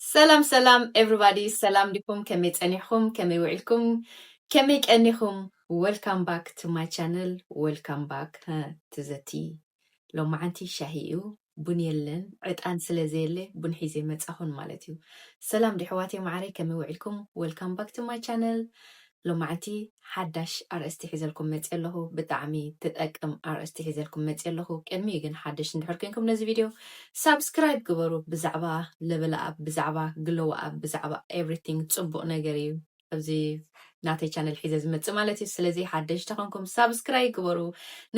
ሰላም ሰላም ኤቭሪባዲ ሰላም ዲኩም ከመይ ጸኒሕኩም ከመይ ውዒልኩም ከመይ ቀኒኩም ወልካም ባክ ቱ ማይ ቻነል ወልካም ባክ ትዘቲ ሎማዓንቲ ሻሂ እዩ ቡን የለን ዕጣን ስለ ዘየለ ቡን ሒዘ መጻኹን ማለት እዩ ሰላም ዲሕዋቴ ማዓረይ ከመይ ውዒልኩም ወልካም ባክ ቱ ማይ ቻነል ሎማዕቲ ሓዳሽ ኣርእስቲ ሒዘልኩም መጽየ ኣለኹ ብጣዕሚ ትጠቅም ኣርእስቲ ሒዘልኩም መጽየ ኣለኹ ቅድሚኡ ግን ሓደሽቲ እንድሕር ኮንኩም ነዚ ቪድዮ ሳብስክራይብ ግበሩ ብዛዕባ ለበል ኣፕ ብዛዕባ ግሎው ኣፕ ብዛዕባ ኤቭሪቲንግ ጽቡቕ ነገር እዩ ኣብዚ ናተይ ቻነል ሒዘ ዝመጽእ ማለት እዩ ስለዚ ሓደሽቲ ኮንኩም ሳብስክራይብ ግበሩ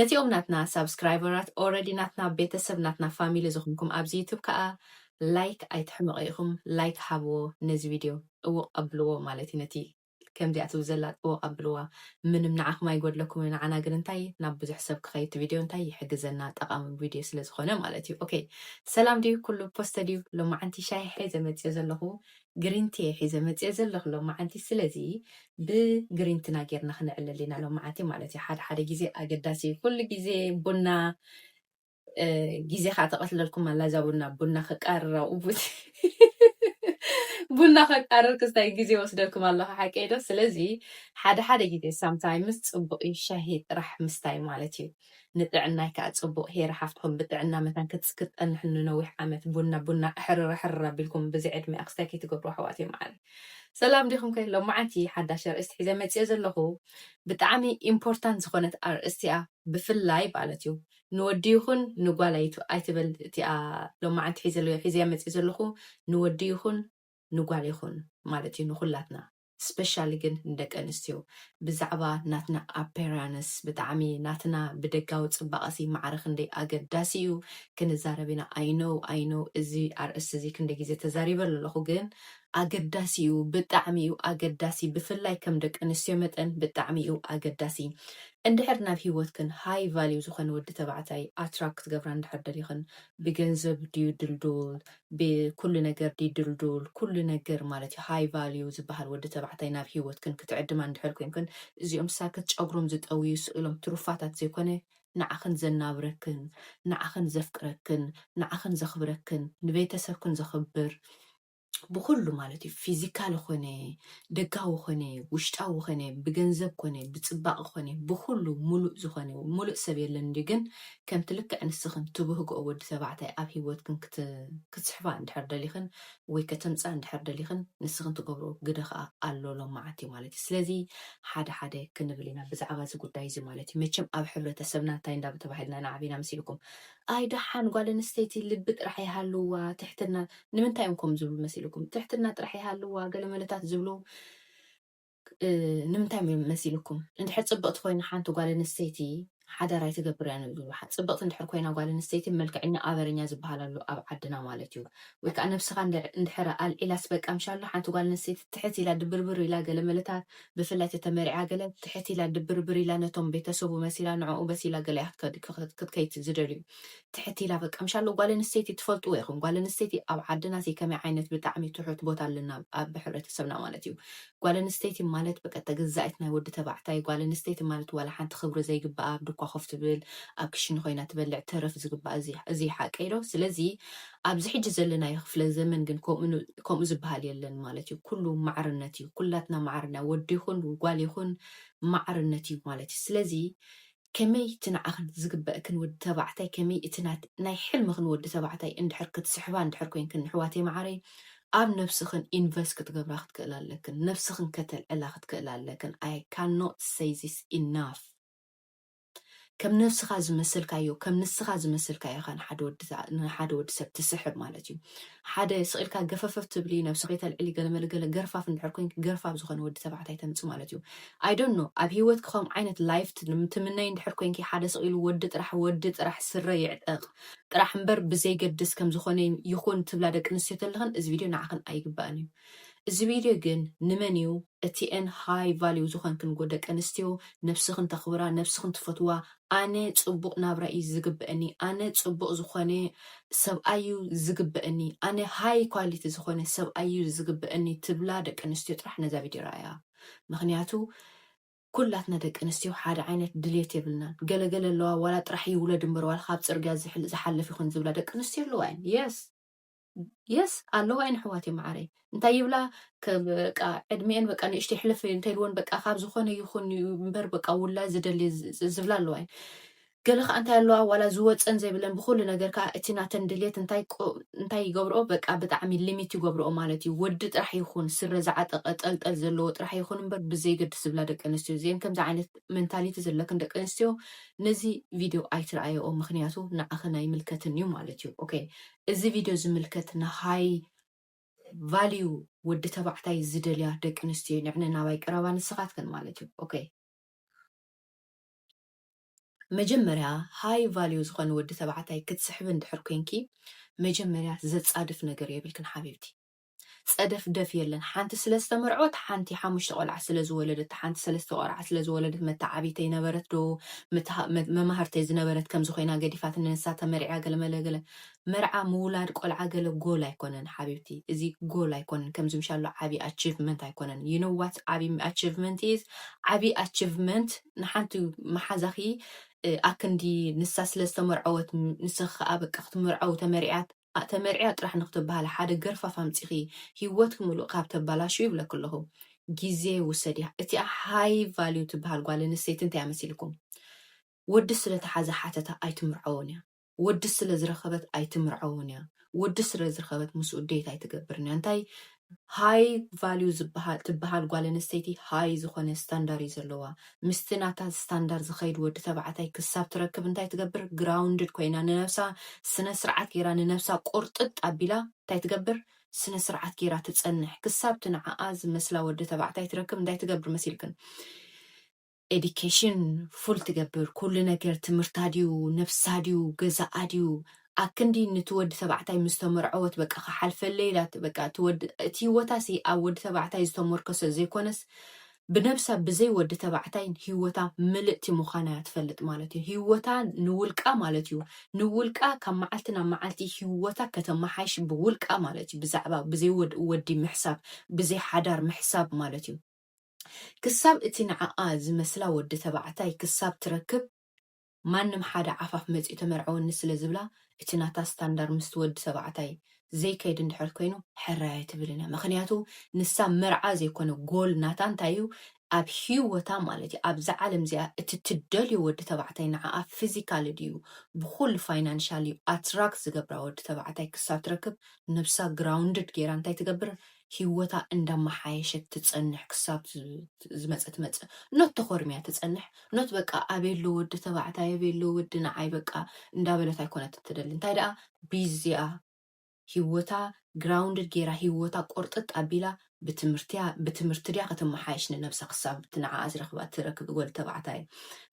ነቲኦም ናትና ሳብስክራይበራት ኦልሬዲ ናትና ቤተሰብ ናትና ፋሚሊ ዝኾንኩም ኣብዚ ዩቱብ ከዓ ላይክ ኣይትሕመቑ ኢኹም ላይክ ሃብዎ ነዚ ቪድዮ ጥውቕ ኣብልዎ ማለት እዩ ነቲ ከምዚኣ ትብል ዘላ ጥውቅ ኣብልዋ ምንም ንዓኹም ኣይጎድለኩምን ንዓና ግን እንታይ ናብ ብዙሕ ሰብ ክኸይድ እቲ ቪድዮ እንታይ ይሕግዘና ጠቃሚ ቪድዮ ስለ ዝኾነ ማለት እዩ ኦከይ ሰላም ድዩ ኩሉ ፖስተ ድዩ ሎማዓንቲ ሻሂ ሒዘ መጽየ ዘለኹ ግሪን ቲ እየ ሒዘ መጽየ ዘለኹ ሎማዓንቲ ስለዚ ብግሪንትና ጌርና ክነዕልል ኢና ሎማዓንቲ ማለት እዩ ሓደ ሓደ ግዜ ኣገዳሲ እዩ ኩሉ ግዜ ቡና ግዜኻ ተቐትለልኩም ኣላ እዛ ቡና ቡና ከቃርር ኣብኡ ቡና ከቃርር ክስታይ ግዜ ወስደልኩም ኣለኹ ሓቀይ ዶ ስለዚ ሓደ ሓደ ግዜ ሳምታይምስ ፅቡቕ እዩ ሻሂ ጥራሕ ምስታይ ማለት እዩ ንጥዕናይ ከዓ ፅቡቕ ሄረ ሓፍትኹም ብጥዕና መታን ክትፀንሕ ንነዊሕ ዓመት ቡና ቡና ሕርር ሕርር ኣቢልኩም ብዚ ዕድሚኣ ክስታይ ከይትገብሩ ኣሕዋት እዮም ዓለ ሰላም ዲኹም ከ ሎማዓንቲ ሓዳሽ ኣርእስቲ ሒዘ መፅኦ ዘለኹ ብጣዕሚ ኢምፖርታንት ዝኾነት ኣርእስቲ እያ ብፍላይ ማለት እዩ ንወዲ ይኹን ንጓል ኣይትበል እቲኣ ሎማዓንቲ ሒዘያ መፂእ ዘለኹ ንወዲ ይኹን ንጓል ይኹን ማለት እዩ ንኹላትና ስፔሻሊ ግን ንደቂ ኣንስትዮ ብዛዕባ ናትና ኣፔራንስ ብጣዕሚ ናትና ብደጋዊ ፅባቐሲ ማዕረ ክንደይ ኣገዳሲ እዩ ክንዛረብ ኢና ኣይ ኖው ኣይ ኖው እዚ ኣርእስቲ እዚ ክንደይ ግዜ ተዛሪበሉ ኣለኹ ግን ኣገዳሲ እዩ ብጣዕሚ እዩ ኣገዳሲ ብፍላይ ከም ደቂ ኣንስትዮ መጠን ብጣዕሚ እዩ ኣገዳሲ እንድሕር ናብ ሂወትክን ሃይ ቫልዩ ዝኾነ ወዲ ተባዕታይ ኣትራክ ክትገብራ እንድሕር ደሊኽን ብገንዘብ ድዩ ድልዱል ብኩሉ ነገር ድዩ ድልዱል ኩሉ ነገር ማለት እዩ ሃይ ቫልዩ ዝበሃል ወዲ ተባዕታይ ናብ ሂወትክን ክትዕድማ እንድሕር ኮንክን እዚኦም ሳክት ጨጉሮም ዝጠውዩ ስእሎም ትሩፋታት ዘይኮነ ንዓኽን ዘናብረክን ንዓኽን ዘፍቅረክን ንዓኽን ዘኽብረክን ንቤተሰብክን ዘኽብር ብኹሉ ማለት እዩ ፊዚካል ኾነ ደጋዊ ኾነ ውሽጣዊ ኾነ ብገንዘብ ኮነ ብፅባቕ ኾነ ብኹሉ ሙሉእ ዝኾነ ሙሉእ ሰብ የለን ድዩ ግን ከምቲ ልክዕ ንስኽን ትብህግኦ ወዲ ተባዕታይ ኣብ ሂወትክን ክትስሕባ እንድሕር ደሊኽን ወይ ከተምፅኣ እንድሕር ደሊኽን ንስኽን ትገብሮ ግደ ከዓ ኣሎ ሎማዓንቲ ማለት እዩ ስለዚ ሓደ ሓደ ክንብል ኢና ብዛዕባ እዚ ጉዳይ እዚ ማለት እዩ መቸም ኣብ ሕብረተሰብና እንታይ እንዳተባሂልና ናዓቢና መሲልኩም ኣይ ደሓን ጓል ኣንስተይቲ ልቢ ጥራሕ ይሃልዋ ትሕትና ንምንታይ እዮም ከምኡ ዝብሉ መሲልኩም ትሕትና ጥራሕ ይሃልዋ ገለመለታት ዝብሉ ንምንታይ እዮም መሲልኩም እንድሕር ጽብቕቲ ኮይና ሓንቲ ጓል ኣንስተይቲ ሓዳር ኣይትገብርያን እዮም ዝብሉ ጽብቕቲ እንድሕር ኮይና ጓል ኣንስተይቲ መልክዐኛ ኣበረኛ ዝበሃል ኣሎ ኣብ ዓድና ማለት እዩ ወይ ከዓ ነብስኻ እንድሕር ኣልዒላስ በቃ ምሻሎ ሓንቲ ጓል ኣንስተይቲ ትሕት ኢላ ድብርብር ኢላ ገለመለታት ብፍላይ ተተመሪዓ ገለ ትሕት ኢላ ድብርብር ኢላ ነቶም ቤተሰቡ መሲላ ንዕኡ በሲላ ገለ እያ ክትከድ ክትከይት ዝደልዩ ትሕት ኢላ በቃ ምሻሎ ጓል ኣንስተይቲ ትፈልጥዎ ኢኹም ጓል ኣንስተይቲ ኣብ ዓድና ዘይ ከመይ ዓይነት ብጣዕሚ ትሑት ቦታ ኣለና ኣብ ሕብረተሰብና ማለት እዩ ጓል ኣንስተይቲ ማለት በቃ ተገዛኢት ናይ ወዲ ተባዕታይ ጓል ኣንስተይቲ ማለት ዋላ ሓንቲ ክብሪ ዘይግብኣ ኣብ ድኳ ኮፍ ትብል ኣብ ክሽነ ኮይና ትበልዕ ተረፍ ዝግብኣ እዚ እዚ ሓቀይ ዶ ስለዚ ኣብዚ ሕጂ ዘለናዮ ክፍለ ዘመን ግን ከምኡ ከምኡ ዝብሃል የለን ማለት እዩ ኩሉ ማዕርነት እዩ ኩላትና ማዕረ እና ወዲ ይኹን ጓል ይኹን ማዕርነት እዩ ማለት እዩ ስለዚ ከመይ እቲ ንዓኺ ዝግበእክን ወዲ ተባዕታይ ከመይ እቲ ናይ ሕልምኽን ወዲ ተባዕታይ እንድሕር ክትስሕባ እንድሕር ኮይንክን ንሕዋተይ ማዓረይ ኣብ ነብስኽን ኢንቨስት ክትገብራ ክትክእላ ኣለክን ነብስኽን ከተልዕላ ክትክእላ ኣለክን ኣይ ካኖት ሰይ ዚስ ኢናፍ ከም ነብስኻ ዝመሰልካዮ ከም ንስኻ ዝመሰልካዮ ኢኻ ንሓደ ወዲ ንሓደ ወዲ ሰብ ትስሕብ ማለት እዩ ሓደ ስቂልካ ገፈፈፍ ትብሊ ነብሲ ከይተልዕሊ ገለመለ ገለ ገርፋፍ እንድሕር ኮንኪ ገርፋፍ ዝኾነ ወዲ ተባዕታይ ተምፂ ማለት እዩ ኣይ ዶንት ኖ ኣብ ሂወትኪ ከም ዓይነት ላይፍ ትምነይ እንድሕር ኮንኪ ሓደ ስቂሉ ወዲ ጥራሕ ወዲ ጥራሕ ስረ ይዕጠቕ ጥራሕ እምበር ብዘይገድስ ከም ዝኾነ ይኹን ትብላ ደቂ ኣንስትዮ ተለኽን እዚ ቪድዮ ንዓኽን ኣይግባእን እዩ እዚ ቪድዮ ግን ንመን እዩ እቲኤን ሃይ ቫሊው ዝኾንክንጎ ደቂ ኣንስትዮ ነብስኽን ተኽብራ ነብስኽን ትፈትዋ ኣነ ጽቡቅ ናብራ እዩ ዝግበእኒ ኣነ ጽቡቅ ዝኾነ ሰብኣይ እዩ ዝግበእኒ ኣነ ሃይ ኳሊቲ ዝኾነ ሰብኣይ እዩ ዝግበእኒ ትብላ ደቂ ኣንስትዮ ጥራሕ ነዛ ቪድዮ ረኣያ ምኽንያቱ ኩላትና ደቂ ኣንስትዮ ሓደ ዓይነት ድሌት የብልናን ገለገለ ኣለዋ ዋላ ጥራሕ ይውለድ እምበር ዋላ ካብ ጽርግያ ዝሓልፍ ይኹን ዝብላ ደቂ ኣንስትዮ ኣለዋ እየን የስ የስ ኣለዋ እየን ኣሕዋት መዓረይ እንታይ ይብላ በቃ ዕድሜኤን በቃ ንእሽተ ይሕለፍ እንተልወን በቃ ካብ ዝኾነ ይኹን እምበር በቃ ውላድ ዝደሊ ዝብላ ኣለዋ እየን ገለ ከዓ እንታይ ኣለዋ ዋላ ዝወፀን ዘይብለን ብኩሉ ነገር ከዓ እቲ ናተን ድልየት እንታይ ይገብርኦ በቃ ብጣዕሚ ሊሚት ይገብርኦ ማለት እዩ ወዲ ጥራሕ ይኹን ስረ ዝዓጠቀ ጠልጠል ዘለዎ ጥራሕ ይኹን እምበር ብዘይገድስ ዝብላ ደቂ ኣንስትዮ እዚአን ከምዚ ዓይነት ሜንታሊቲ ዘለክን ደቂ ኣንስትዮ ነዚ ቪድዮ ኣይትረኣየኦ ምክንያቱ ንዓኽን ኣይምልከትን እዩ ማለት እዩ ኦኬ እዚ ቪድዮ ዝምልከት ንሃይ ቫልዩ ወዲ ተባዕታይ ዝደልያ ደቂ ኣንስትዮ እዩ ንዕነ ናባይ ቅረባ ንስኻትክን ማለት እዩ ኦኬ መጀመርያ ሃይ ቫልዩ ዝኾነ ወዲ ተባዕታይ ክትስሕቢ እንድሕር ኮንኪ መጀመርያ ዘጻድፍ ነገር የብልክን ሓቢብቲ ጸደፍደፍ የለን ሓንቲ ስለ ዝተመርዐወት ሓንቲ ሓሙሽተ ቆልዓ ስለ ዝወለደት ሓንቲ ሰለስተ ቆልዓ ስለ ዝወለደት መተዓብይተይ ነበረት ዶ ምትሃ መ- መማህርተይ ዝነበረት ከምዚ ኮይና ገዲፋት ንንሳ ተመርዕያ ገለ መለ ገለ መርዓ ምውላድ ቆልዓ ገለ ጎል ኣይኮነን ሓቢብቲ እዚ ጎል ኣይኮነን ከምዚ ምሻሎ ዓቢ ኣቺቭመንት ኣይኮነን you know what ዓቢ ኣቺቭመንት is ዓቢ ኣቺቭመንት ንሓንቲ መሓዛኺ እ፣ ኣክንዲ ንሳ ስለ ዝተመርዐወት ም- ንስኺ ከዓ በቃ ክትምርዐው ተመሪዓት ኣእ ተመርዕያ ጥራሕ ንክትብሃሊ ሓደ ገርፋፍ ኣምጺኪ ሂወትኪ ምሉእ ካብ ተባላሽዊ ይብለኪ ኣለኩ ግዜ ውሰድያ እቲኣ ሃይ ቫልዩ ትብሃል ጓል ኣንስተይቲ እንታይ ኣመሲልኩም ወዲ ስለ ተሓዘ ሓተታ ኣይትምርዐዎን እያ ወዲ ስለ ዝረከበት ኣይትምርዐዎን እያ ወዲ ስለ ዝረከበት ምስኡ ዴት ኣይትገብርን እያ እንታይ ሃይ ቫልዩ ዝብሃል ትብሃል ጓል ኣንስተይቲ ሃይ ዝኾነ ስታንዳር እዩ ዘለዋ ምስቲ ናታ ስታንዳር ዝኸይድ ወዲ ተባዕታይ ክሳብ ትረክብ እንታይ ትገብር ግራውንድድ ኮይና ንነብሳ ስነ ስርዓት ጌራ ንነብሳ ቁርጥጥ ኣቢላ እንታይ ትገብር ስነ ስርዓት ጌራ ትጸንሕ ክሳብቲ ንዓኣ ዝመስላ ወዲ ተባዕታይ ትረክብ እንታይ ትገብር መሲልክን ኤዲኬሽን ፉል ትገብር ኩሉ ነገር ትምህርታ ድዩ ነብሳ ድዩ ገዛኣ ድዩ ኣክንዲ ንቲ ወዲ ተባዕታይ ምስ ተመርዐወት በቃ ክሓልፈለይ ኢላ በቃ እቲ ወዲ እቲ ሂወታ ሲ ኣብ ወዲ ተባዕታይ ዝተሞርከሰ ዘይኮነስ ብነብሳ ብዘይ ወዲ ተባዕታይ ሂወታ ምልእቲ ምዃና እያ ትፈልጥ ማለት እዩ ሂወታ ንውልቃ ማለት እዩ ንውልቃ ካብ መዓልቲ ናብ መዓልቲ ሂወታ ከተመሓይሽ ብውልቃ ማለት እዩ ብዛዕባ ብዘይ ወዲ ምሕሳብ ብዘይ ሓዳር ምሕሳብ ማለት እዩ ክሳብ እቲ ንዓኣ ዝመስላ ወዲ ተባዕታይ ክሳብ ትረክብ ማንም ሓደ ዓፋፍ መጺኡ ተመርዐወኒ ስለ ዝብላ እቲ ናታ ስታንዳር ምስቲ ወዲ ተባዕታይ ዘይከይድ እንድሕር ኮይኑ ሕራይ ኣይትብልን እያ ምኽንያቱ ንሳ መርዓ ዘይኮነ ጎል ናታ እንታይ እዩ ኣብ ሂወታ ማለት እዩ ኣብዛ ዓለም እዚኣ እቲ ትደልዮ ወዲ ተባዕታይ ንዓኣ ፊዚካሊ ድዩ ብኹሉ ፋይናንሻል እዩ ኣትራክት ዝገብራ ወዲ ተባዕታይ ክሳብ ትረክብ ነብሳ ግራውንድድ ጌራ እንታይ ትገብር ሂወታ እንዳማሓየሸት ትጸንሕ ክሳብ ዝመጸ ትመጽ ኖት ተኾርምያ ትጸንሕ ኖት በቃ ኣበይ ኣሎ ወዲ ተባዕታይ ኣበይ ኣሎ ወዲ ንዓይ በቃ እንዳበለት ኣይኮነትን ትደሊ እንታይ ደኣ ቢዚኣ ሂወታ ግራውንድድ ጌራ ሂወታ ቆርጥጥ ኣቢላ ብትምህርቲያ ብትምህርቲ ድያ ከተማሓየሽ ንነብሳ ክሳብ እቲ ንዓኣ ዝረክባ ትረክብ ወዲ ተባዕታይ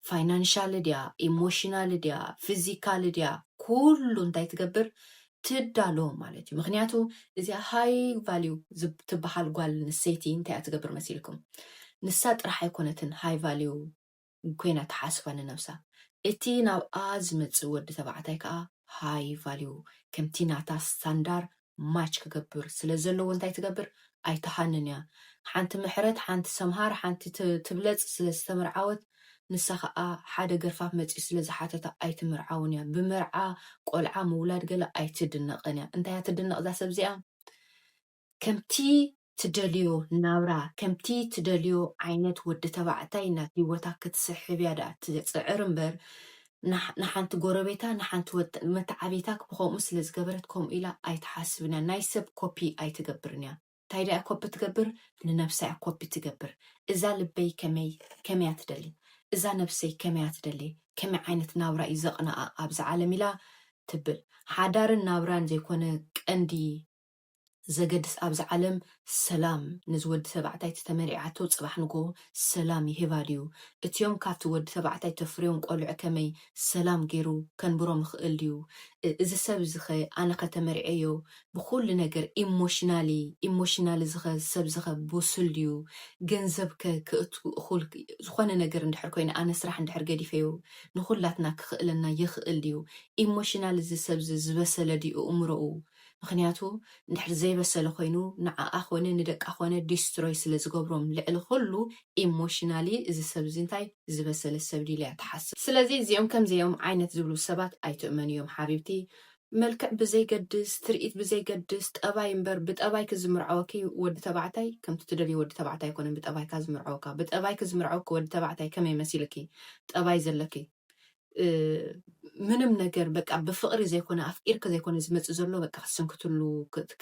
ፋይናንሻል ድያ ኢሞሽናል ድያ ፊዚካል ድያ ኩሉ እንታይ ትገብር ትዳሎ ማለት እዩ ምክንያቱ እዚኣ ሃይ ቫልዩ ትበሃል ጓል ንሰይቲ እንታይ እያ ትገብር መሲልኩም ንሳ ጥራሕ ኣይኮነትን ሃይ ቫልዩ ኮይና ትሓስባ ንነብሳ እቲ ናብኣ ዝመጽእ ወዲ ተባዕታይ ከዓ ሃይ ቫልዩ ከምቲ ናታ ስታንዳር ማች ክገብር ስለ ዘለዎ እንታይ ትገብር ኣይትሃንን እያ ሓንቲ ምሕረት ሓንቲ ሰምሃር ሓንቲ ትብለጽ ስለ ዝተመርዓወት ንሳ ከኣ ሓደ ገርፋፍ መጺኡ ስለ ዝሓተታ ኣይትምርዓውን እያ ብመርዓ ቆልዓ ምውላድ ገለ ኣይትድነቕን እያ እንታይ እያ ትድነቕ እዛ ሰብ እዚኣ ከምቲ ትደልዮ ናብራ ከምቲ ትደልዮ ዓይነት ወዲ ተባዕታይ ናብ ሂወታ ክትስሕብ እያ ደኣ ትጽዕር እምበር ንሓንቲ ጎረቤታ ንሓንቲ ወዲ መተዓብይታ ብከምኡ ስለ ዝገበረት ከምኡ ኢላ ኣይትሓስብን እያ ናይ ሰብ ኮፒ ኣይትገብርን እያ ታይ ድያ ኮፒ ትገብር ንነብሳ እያ ኮፒ ትገብር እዛ ልበይ ከመይ ከመይ እያ ትደሊ እዛ ነብሰይ ከመይ እያ ትደሊ ከመይ ዓይነት ናብራ እዩ ዘቅንኣ ኣብዚ ዓለም ኢላ ትብል ሓዳርን ናብራን ዘይኮነ ቀንዲ ዘገድስ ኣብዚ ዓለም ሰላም ነዚ ወዲ ተባዕታይ እቲ ተመርዒዓቶ ጽባሕ ንግሆ ሰላም ይህባ ድዩ እትዮም ካብቲ ወዲ ተባዕታይ ተፍርዮም ቆልዑ ከመይ ሰላም ጌሩ ከንብሮም ይኽእል ድዩ እዚ ሰብ እዚኸ ኣነኸ ተመርዔዮ ብኹሉ ነገር ኢሞሽናሊ ኢሞሽናሊ እዚኸ ሰብ እዚኸ ቡሱል ድዩ ገንዘብከ ከእቱ እኹል ዝኾነ ነገር እንድሕር ኮይነ ኣነ ስራሕ እንድሕር ገዲፈዮ ንኹላትና ክኽእለና ይኽእል ድዩ ኢሞሽናሊ እዚ ሰብዚ ዝበሰለ ድዩ እእምሮኡ ምኽንያቱ እንድሕር ዘይበሰለ ኮይኑ ንዓኣ ኮነ ንደቃ ኮነ ዲስትሮይ ስለ ዝገብሮም ልዕሊ ኩሉ ኢሞሽናሊ እዚ ሰብ እዚ እንታይ ዝበሰለ ሰብ ድዩ ኢላ ትሓስብ ስለዚ እዚኦም ከምዚኦም ዓይነት ዝብሉ ሰባት ኣይትእመንዮም ሓቢብቲ መልክዕ ብዘይገድስ ትርኢት ብዘይገድስ ጠባይ እምበር ብጠባይ ክዝምርዐወኪ ወዲ ተባዕታይ ከምቲ ትደልዮ ወዲ ተባዕታይ ኣይኮነን ብጠባይካ ዝምርዐወካ ብጠባይኪ ዝምርዐወኪ ወዲ ተባዕታይ ከመይ መሲልኪ ጠባይ ዘለኪ ምንም ነገር በቃ ብፍቕሪ ዘይኮነ ኣፍቂርኪ ዘይኮነ ዝመፅእ ዘሎ በቃ ክትስንክትሉ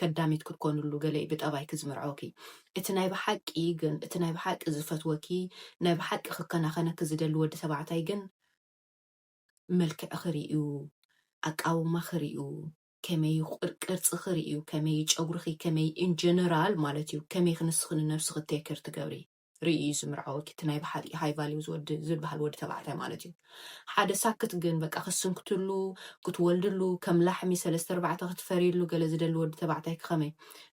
ከዳሚት ክትኮንሉ ገለ እዩ ብጠባይኪ ዝምርዐውኪ እቲ ናይ ብሓቂ ግን እቲ ናይ ብሓቂ ዝፈትወኪ ናይ ብሓቂ ክከናኸነኪ ዝደሊ ወዲ ተባዕታይ ግን መልክዕ ክርእዩ ኣቃውማ ክርእዩ ከመይ ቅርፂ ክርእዩ ከመይ ጨጉርኺ ከመይ ኢንጀነራል ማለት እዩ ከመይ ክንስኺ ንነብስኺ ቴክር ትገብሪ ሪኡ እዩ ዝምርዖ ወኪ እቲ ናይ ብሓቂ ሃይ ቫሊው ዝወዲ ዝበሃል ወዲ ተባዕታይ ማለት እዩ ሓደ ሳክት ግን በቃ ክትስንክትሉ ክትወልድሉ ከም ላሕሚ ሰለስተ ኣርባዕተ ክትፈርይሉ ገለ ዝደሊ ወዲ ተባዕታይ ክኸመይ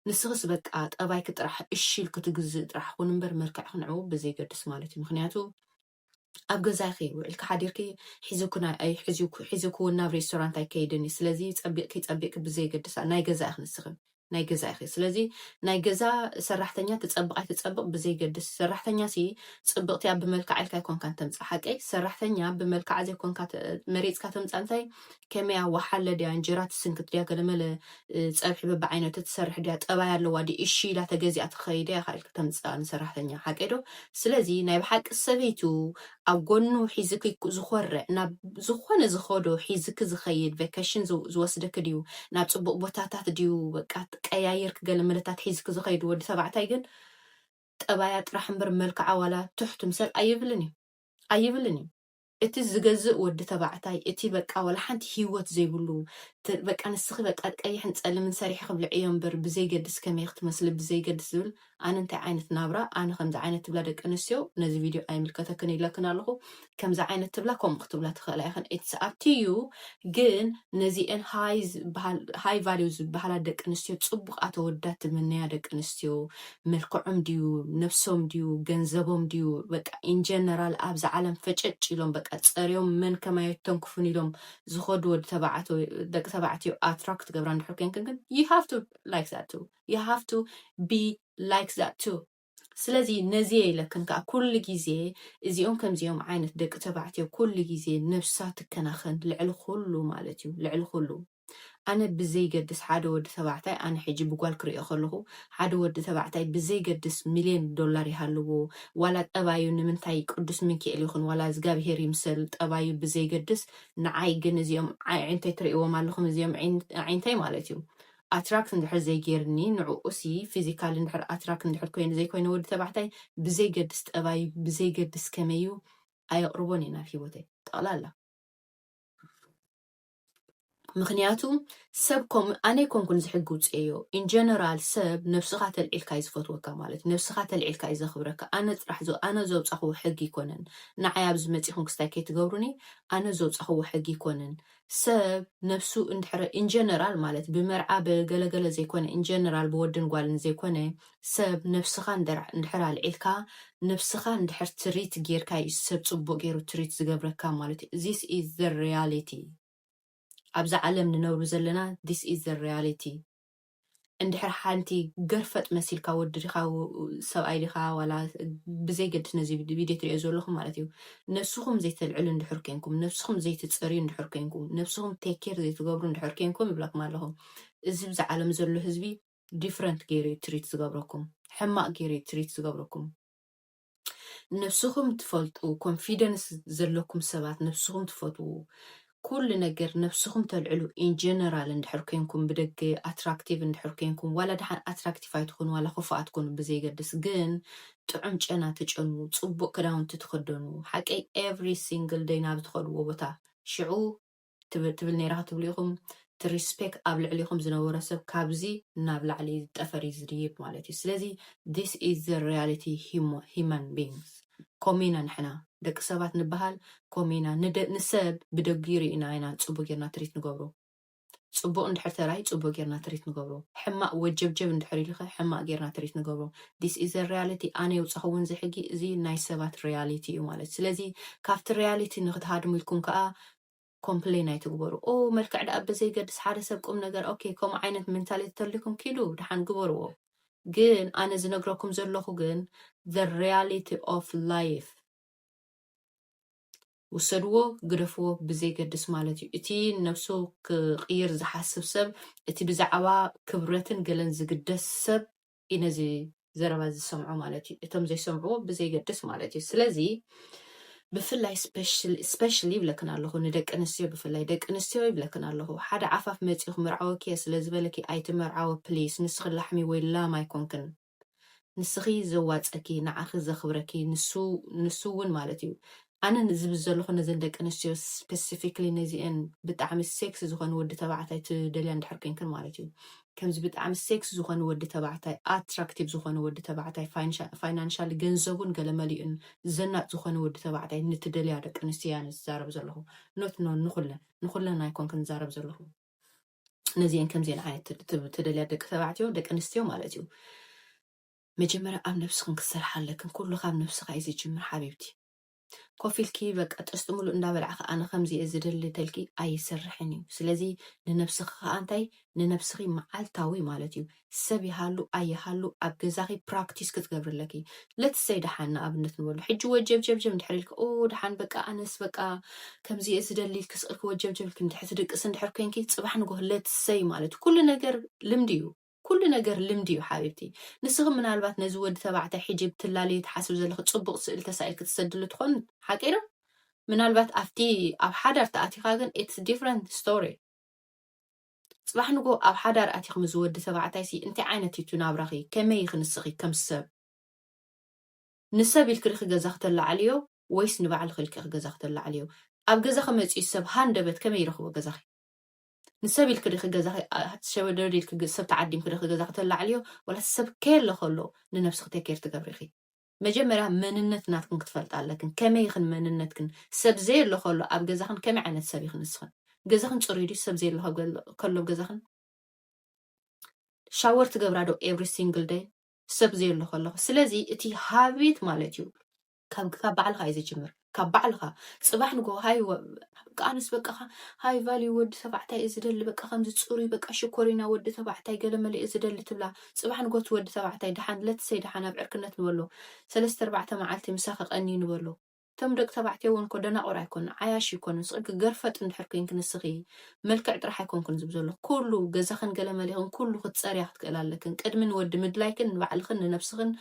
ንስኽስ በቃ ጠባይኪ ጥራሕ እሺ ኢልኪ ትግዝእ ጥራሕ ኹን እምበር መልክዕኪ ንዕኡ ብዘይገድስ ማለት እዩ ምክንያቱ ኣብ ገዛኪ ውዒልኪ ሓዲርኪ ሒዙክውን ናብ ሬስቶራንት ኣይከይድን እዩ ስለዚ ፀቢቅኪ ፀቢቅኪ ብዘየገድስ ናይ ገዛ ኢኪ ንስኪ ናይ ገዛ ኢኪ ስለዚ ናይ ገዛ ሰራሕተኛ ትፀብቅ ኣይትፀብቅ ብዘይገድስ ሰራሕተኛ ሲ ፅብቅቲ እያ ብመልክዓ ኢልካ ኣይኮንካን ተምፅእ ሓቀይ ሰራሕተኛ ብመልክዓ ዘይኮንካ መሪፅካ ተምፃእ እንታይ ከመይ እያ ወሓለ ድያ እንጀራ ትስንክት ድያ ገለመለ ፀብሒ በብዓይነቱ ትሰርሕ ድያ ጠባይ ኣለዋ ድዩ እሺ ኢላ ተገዚኣ ትኸይድ እያ ኢኻ ኢልካ ተምፅኣ ንሰራሕተኛ ሓቀይ ዶ ስለዚ ናይ ብሓቂ ሰበይቱ ኣብ ጎኑ ሒዝኪ ዝኾርዕ ናብ ዝኾነ ዝኸዶ ሒዝኪ ዝኸይድ ቬኬሽን ዝው- ዝወስደኪ ድዩ ናብ ፅቡቅ ቦታታት ድዩ በቃ ቀያይርኪ ገለ መለታት ሒዝኪ ዝኸይድ ወዲ ተባዕታይ ግን ጠባያ ጥራሕ እምበር መልክዓ ዋላ ትሕቱም ሰብ ኣይብልን እዩ ኣይብልን እዩ እቲ ዝገዝእ ወዲ ተባዕታይ እቲ በቃ ዋላ ሓንቲ ሂወት ዘይብሉ እቲ በቃ ንስኺ በቃ ቀይሕን ጸልምን ሰሪሒ ክብልዕ እዮ እምበር ብዘይገድስ ከመይ ክትመስሊ ብዘይገድስ ዝብል ኣነ እንታይ ዓይነት ናብራ ኣነ ከምዚ ዓይነት ትብላ ደቂ ኣንስትዮ ነዚ ቪድዮ ኣይምልከተክን ይብለክን ኣለኹ ከምዚ ዓይነት ትብላ ከምኡ ክትብላ ትኽእላ ኢኽን ኢትስ ኣፕ ቱ ዩ ግን ነዚኤን ሃይ ዝበሃል ሃይ ቫልዩ ዝበሃላ ደቂ ኣንስትዮ ጽቡቕ ኣተወዳት ትምነያ ደቂ ኣንስትዮ መልክዖም ድዩ ነብሶም ድዩ ገንዘቦም ድዩ በቃ in general ኣብዛ ዓለም ፈጨጭ ኢሎም በቃ ጸርዮም መን ከማይ ኣይተንክፉን ኢሎም ዝኸዱ ወዲ ተባዕቶ ደቂ ተባዕትዮ attract ትገብራ እንድሕር ኮንክን ግን you have to like that too you have to be like that too ስለዚ ነዚ እየ ኢለክን ከዓ ኩሉ ግዜ እዚኦም ከምዚኦም ዓይነት ደቂ ተባዕትዮ ኩሉ ግዜ ነብሳ ትከናኸን ልዕሊ ኩሉ ማለት እዩ ልዕሊ ኩሉ ኣነ ብዘይገድስ ሓደ ወዲ ተባዕታይ ኣነ ሕጂ ብጓል ክርእዮ ከለኹ ሓደ ወዲ ተባዕታይ ብዘይገድስ ሚልዮን ዶላር ይሃልዎ ዋላ ጠባዩ ንምንታይ ቅዱስ ምንኪኤል ይኹን ዋላ እዝጋብሄር ይምሰል ጠባዩ ብዘይገድስ ንዓይ ግን እዚኦም ኣዒንተይ ትርእይዎም ኣለኹም እዚኦም ኣዒንተይ ማለት እዩ ኣትራክት እንድሕር ዘይጌርኒ ንዕኡሲ ፊዚካሊ እንድሕር ኣትራክት እንድሕር ኮይኑ ዘይኮይነ ወዲ ተባዕታይ ብዘይገድስ ጠባዩ ብዘይገድስ ከመይ እዩ ኣየቕርቦን እየ ናብ ሂወተይ ጠቕላላ። ምክንያቱ ሰብ ኮም ኣነ ኣይኮንኩን ዝሕጊ ውፅኤዮ ኢን ጀነራል ሰብ ነብስኻ ተልዒልካ እዩ ዝፈትወካ ማለት እዩ ነብስኻ ተልዒልካ እዩ ዘኽብረካ ኣነ ጥራሕ ዘ- ኣነ ዘውፃኽዎ ሕጊ ይኮነን ንዓይ ኣብዚ መፂኹም ክስታይ ከይትገብሩኒ ኣነ ዘውፃኽዎ ሕጊ ይኮነን ሰብ ነብሱ እንድሕረ ኢን ጀነራል ማለት ብመርዓ ብገለገለ ዘይኮነ ኢን ጀነራል ብወድን ጓልን ዘይኮነ ሰብ ነብስኻ እንድሕር ኣልዒልካ ነብስኻ እንድሕር ትሪት ጌርካ እዩ ሰብ ጽቡቅ ጌሩ ትሪት ዝገብረካ ማለት እዩ this is the reality ኣብዛ ዓለም ንነብሩ ዘለና this is the reality እንድሕር ሓንቲ ገርፈጥ መሲልካ ወዲ ዲኻ ሰብኣይ ዲኻ ዋላ ብዘይ ገድስ ነዚ ቪድዮ ትሪኦ ዘለኹም ማለት እዩ ነብስኹም ዘይተልዕሉ እንድሕር ኮንኩም ነብስኹም ዘይትጸርዩ እንድሕር ኮንኩም ነብስኹም ቴክ ኬር ዘይትገብሩ እንድሕር ኮንኩም ይብለኩም ኣለኹ እዚ ብዛ ዓለም ዘሎ ህዝቢ ዲፍረንት ገይሩ እዩ ትሪት ዝገብረኩም ሕማቅ ገይሩ እዩ ትሪት ዝገብረኩም ንብስኹም ትፈልጡ ኮንፊደንስ ዘለኩም ሰባት ንብስኹም ትፈትዉ ኩሉ ነገር ነብስኹም ተልዕሉ ኢንጀነራል እንድሕር ኮንኩም ብደገ ኣትራክቲቭ እንድሕር ኮንኩም ዋላ ድሓን ኣትራክቲቭ ኣይትኾኑ ዋላ ክፉኣት ኮኑ ብዘይገድስ ግን ጥዑም ጨና ትጨኑ ፅቡቅ ክዳውንቲ ትኽደኑ ሓቀይ ኤቭሪ ሲንግል ደይ ናብ ትኸድዎ ቦታ ሽዑ ትብ ትብል ነይራ ክትብሉ ኢኹም እቲ ሪስፔክ ኣብ ልዕሊኹም ዝነበሮ ሰብ ካብዚ ናብ ላዕሊ ጠፈር እዩ ዝድይብ ማለት እዩ ስለዚ this is the reality humo human beings ኮምኡ ኢና ንሕና ደቂ ሰባት ንበሃል ኮምኡ ኢና ንደ ንሰብ ብደጊኡ ሪኢና ኢና ጽቡቅ ጌርና ትሪት ንገብሮ ጽቡቅ እንድሕር ተራይ ጽቡቅ ጌርና ትሪት ንገብሮ ሕማቅ ወጀብጀብ እንድሕር ኢሉኸ ሕማቅ ጌርና ትሪት ንገብሮ this is the reality ኣነ የውጻኹውን እዚ ሕጊ እዚ ናይ ሰባት reality እዩ ማለት ስለዚ ካብቲ reality ንክትሃድምልኩም ከኣ ኮምፕሌን ኣይትግበሩ ኦው መልክዕ ደኣ በዘይገድስ ሓደ ሰብ ቁም ነገር ኦኬ ከምኡ ዓይነት ሜንታሊቲ ተልዩኩም ኪዱ ደሓን ግበርዎ ግን ኣነ ዝነግረኩም ዘለኹ ግን the reality of life ውሰድዎ ግደፍዎ ብዘይገድስ ማለት እዩ እቲ ነብሱ ክቕይር ዝሓስብ ሰብ እቲ ብዛዕባ ክብረትን ገለን ዝግደስ ሰብ እዩ ነዚ ዘረባ ዝሰምዑ ማለት እዩ እቶም ዘይሰምዕዎ ብዘይገድስ ማለት እዩ ስለዚ ብፍላይ ስፔሻሊ ይብለክን ኣለኹ ንደቂ ኣንስትዮ ብፍላይ ደቂ ኣንስትዮ ይብለክን ኣለኹ ሓደ ዓፋፍ መፂኡ ክምርዓወኪ እየ ስለ ዝበለኪ ኣይትመርዓወ ፕሊስ ንስኺ ላሕሚ ወይ ላም ኣይኮንክን ንስኺ ዘዋፀኪ ንዓኺ ዘኽብረኪ ንሱ እውን ማለት እዩ ኣነ ዝብል ዘለኹ ነዘን ደቂ ኣንስትዮ ስፐሲፊክሊ ነዚኤን ብጣዕሚ ሴክሲ ዝኾነ ወዲ ተባዕታይ ትደልያ እንድሕር ኮይንክን ማለት እዩ ከምዚ ብጣዕሚ ሴክሲ ዝኾነ ወዲ ተባዕታይ ኣትራክቲቭ ዝኾነ ወዲ ተባዕታይ ፋይናንሻሊ ገንዘቡን ገለመሊኡን ዘናጥ ዝኾነ ወዲ ተባዕታይ ንትደልያ ደቂ ኣንስትዮ እያ ዝዛረብ ዘለኹ ኖት ኖ ንኹለን ንኹለን ኣይኮንክን ዝዛረብ ዘለኹ ነዚኤን ከምዚኤን ዓይነት ትደልያ ደቂ ተባዕትዮ ደቂ ኣንስትዮ ማለት እዩ መጀመርያ ኣብ ነብስክን ክትሰርሓ ኣለክን ኩሉ ካብ ነብስካ እዩ ዝጅምር ሓቢብቲ ኮፍ ኢልኪ በቃ ጥስጢ ሙሉእ እንዳበላዕኪ ኣነ ከምዚ እየ ዝደሊ ተልኪ ኣይሰርሕን እዩ ስለዚ ንነብስኪ ከኣ እንታይ ንነብስኪ መዓልታዊ ማለት እዩ ሰብ ይሃሉ ኣይሃሉ ኣብ ገዛኪ ፕራክቲስ ክትገብሪ ኣለኪ let's say ደሓን ንኣብነት ንበሎ ሕጂ ወጀብጀብጀብ እንድሕር ኢልኪ ኦ ደሓን በቃ ኣነስ በቃ ከምዚ እየ ዝደሊ ኢልኪ ስቅልኪ ወጀብጀብ ኢልኪ እንድሕር ትድቅሲ እንድሕር ኮንኪ ጽባሕ ንጎህ let's say ማለት ኩሉ ነገር ልምዲ እዩ ኩሉ ነገር ልምዲ እዩ ሓቢብቲ። ንስኺ ምናልባት ነዚ ወዲ ተባዕታይ ሕጂ ብትላለዮ ትሓስቢ ዘለኺ ጽቡቕ ስእሊ ተሳኢልኪ ትሰድሉ ትኾን ሓቂ ዶ? ምናልባት ኣብቲ ኣብ ሓዳር ተኣቲኻ ግን it's different story። ጽባሕ ንግሆ ኣብ ሓዳር ኣቲኺ ምዚ ወዲ ተባዕታይሲ እንታይ ዓይነት እዩ እቲ ናብራኺ ከመይ ኢኺ ንስኺ ከም ሰብ ንሰብ ኢልኪ ዲኺ ገዛ ክተላዕልዮ ወይስ ንባዕልኺ ኢልኪ ኢኺ ገዛ ክተላዕልዮ? ኣብ ገዛኺ መጺኡ ሰብ ሃንደበት ከመይ ይረኽቦ ገዛኺ? ንሰብ ኢልኪ ዲኺ ገዛኺ ሸበድበድ ኢልኪ ሰብ ተዓዲምኪ ዲኺ ገዛኺ ተላዕልዮ ዋላስ ሰብ ከየለ ከሎ ንነብስኺ ቴኬር ትገብሪኺ መጀመርያ መንነት ናትክን ክትፈልጣ ኣለክን ከመይ ኢኽን መንነትክን ሰብ ዘየሎ ከሎ ኣብ ገዛኽን ከመይ ዓይነት ሰብ ኢኽን ንስኽን ገዛኽን ፅሩይ ድዩ ሰብ ዘየሎ ከሎ ኣብ ገዛኽን ሻወር ትገብራ ዶ ኤቭሪ ሲንግል ደይ ሰብ ዘየሎ ከለኹ ስለዚ እቲ ሃቢት ማለት እዩ ካብ ካብ ባዕልኻ እዩ ዝጅምር ካብ ባዕልኻ ጽባሕ ንጎ ሃይ ወ- በቃ ኣነስ በቃ ኸ- ሃይ ቫልዩ ወዲ ተባዕታይ እዩ ዝደሊ በቃ ከምዚ ጽሩይ በቃ ሽኮሪና ወዲ ተባዕታይ ገለመለ እዩ ዝደሊ ትብላ ጽባሕ ንጎ እቲ ወዲ ተባዕታይ ድሓን ለትሰይ ድሓን ኣብ ዕርክነት ንበሎ ሰለስተ ኣርባዕተ መዓልቲ ምሳኺ ቀንዩ ንበሎ እቶም ደቂ ተባዕትዮ እውን እኮ ደናቑር ኣይኮኑ ዓያሹ ይኮኑ ንስኺ ገርፈጥ እንድሕር ኮንኪ ንስኺ መልክዕ ጥራሕ ኣይኮንኩን ዝብ ዘሎ ኩሉ ገዛኽን ገለመሌኽን ኩሉ ክትፀርያ ክትክእል ኣለክን ቅድሚ ንወዲ ምድላይክን ንባዕልኽን ንነብስኽን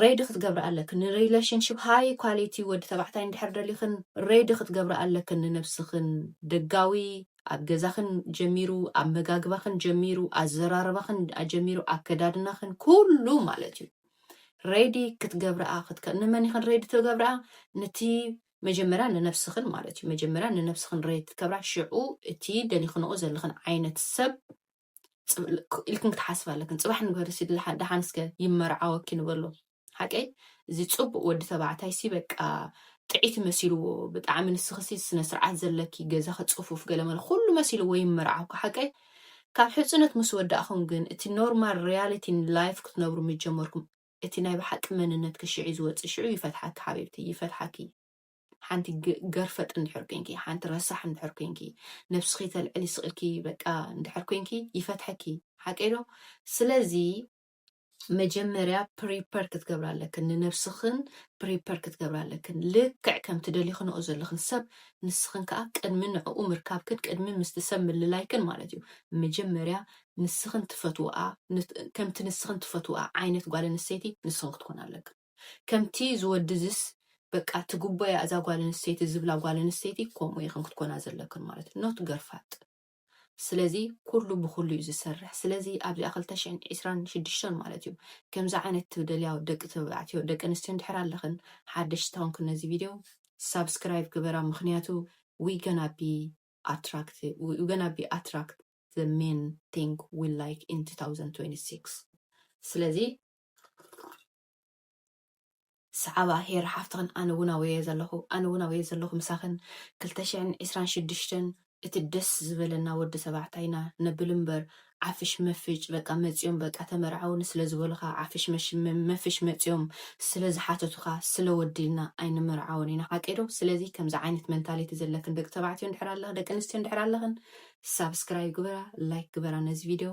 ሬዲ ክትገብራ ኣለክን ንሪለሽንሽፕ ሃይ ኳሊቲ ወዲ ተባዕታይ እንድሕር ደሊኽን ሬዲ ክትገብራ ኣለክን ንነብስኽን ደጋዊ ኣብ ገዛኽን ጀሚሩ ኣመጋግባኽን ጀሚሩ ኣዘራርባኽን ኣጀሚሩ ኣከዳድናኽን ኩሉ ማለት እዩ ሬዲ ክትገብርኣ ክትከ ንመን ኢኽን ሬዲ ትገብርኣ ንቲ መጀመርያ ንነብስኽን ማለት እዩ መጀመርያ ንነብስኽን ሬዲ ትገብራ ሽዑ እቲ ደሊኽንኦ ዘለኽን ዓይነት ሰብ ኢልክን ክትሓስብ ኣለክን ፅባሕ ንግበሪ ሲ ደሓን እስከ ይመርዓወኪ ንበሎ ሓቀይ እዚ ፅቡቅ ወዲ ተባዕታይ ሲ በቃ ጥዒቲ መሲልዎ ብጣዕሚ ንስኺ ሲ ስነ ስርዓት ዘለኪ ገዛኺ ፅፉፍ ገለመለ ኩሉ መሲልዎ ይመርዓውካ ሓቀይ ካብ ሕፅነት ምስ ወዳእኹም ግን እቲ ኖርማል ሪያሊቲ ላይፍ ክትነብሩ ምስ ጀመርኩም እቲ ናይ ብሓቂ መንነትኪ ሽዑ ዝወፅእ ሽዑ ይፈትሓኪ ሓቢብቲ ይፈትሓኪ ሓንቲ ገርፈጥ እንድሕር ኮንኪ ሓንቲ ረሳሕ እንድሕር ኮንኪ ነብስኪ ተልዕሊ ስቅ ኢልኪ በቃ እንድሕር ኮንኪ ይፈትሐኪ ሓቀይ ዶ ስለዚ መጀመርያ ፕሪፐር ክትገብራ ኣለክን ንነብስክን ፕሪፐር ክትገብራ ኣለክን ልክዕ ከም ትደልክንኦ ዘለክን ሰብ ንስክን ከዓ ቅድሚ ንዕኡ ምርካብክን ቅድሚ ምስቲ ሰብ ምልላይክን ማለት እዩ መጀመርያ ንስክን ትፈትውኣ ከምቲ ንስክን ትፈትውኣ ዓይነት ጓል ኣንስተይቲ ንስክን ክትኮና ኣለክን ከምቲ እዚ ወዲ እዚስ በቃ ትግቦያ እዛ ጓል ኣንስተይቲ ዝብላ ጓል ኣንስተይቲ ከምኡ ኢኽን ክትኮና ዘለክን ማለት እዩ ኖት ገርፋጥ ስለዚ ኩሉ ብኩሉ እዩ ዝሰርሕ ስለዚ ኣብዚኣ ክልተ ሽሕን ዕስራን ሽዱሽተን ማለት እዩ ከምዚ ዓይነት ትደልያ ደቂ ተባዕትዮ ደቂ ኣንስትዮ እንድሕር ኣለኽን ሓደሽቲ ተኾንክን ነዚ ቪድዮ ሳብስክራይብ ግበራ ምክንያቱ we gonna be attract we gonna be attract the main thing we like in 2026 ስለዚ ሰዓባ ሄር ሓፍትኽን ኣነ እውን ኣብየ ዘለኹ ኣነ እውን ኣብየ ዘለኹ ምሳኽን ክልተ ሽሕን ዕስራን ሽዱሽተን እቲ ደስ ዝበለና ወዲ ተባዕታይና ነብል እምበር ዓፍሽ መፍጭ በቃ መፅዮም በቃ ተመርዓውኒ ስለ ዝበሉኻ ዓፍሽ መፍሽ መፅዮም ስለ ዝሓተቱኻ ስለ ወዲ ኢልና ኣይንምርዓውን ኢና ሓቀይ ዶ ስለዚ ከምዚ ዓይነት መንታሊቲ ዘለክን ደቂ ተባዕትዮ እንድሕር ኣለኽ ደቂ ኣንስትዮ እንድሕር ኣለኽን ሳብስክራይብ ግበራ ላይክ ግበራ ነዚ ቪድዮ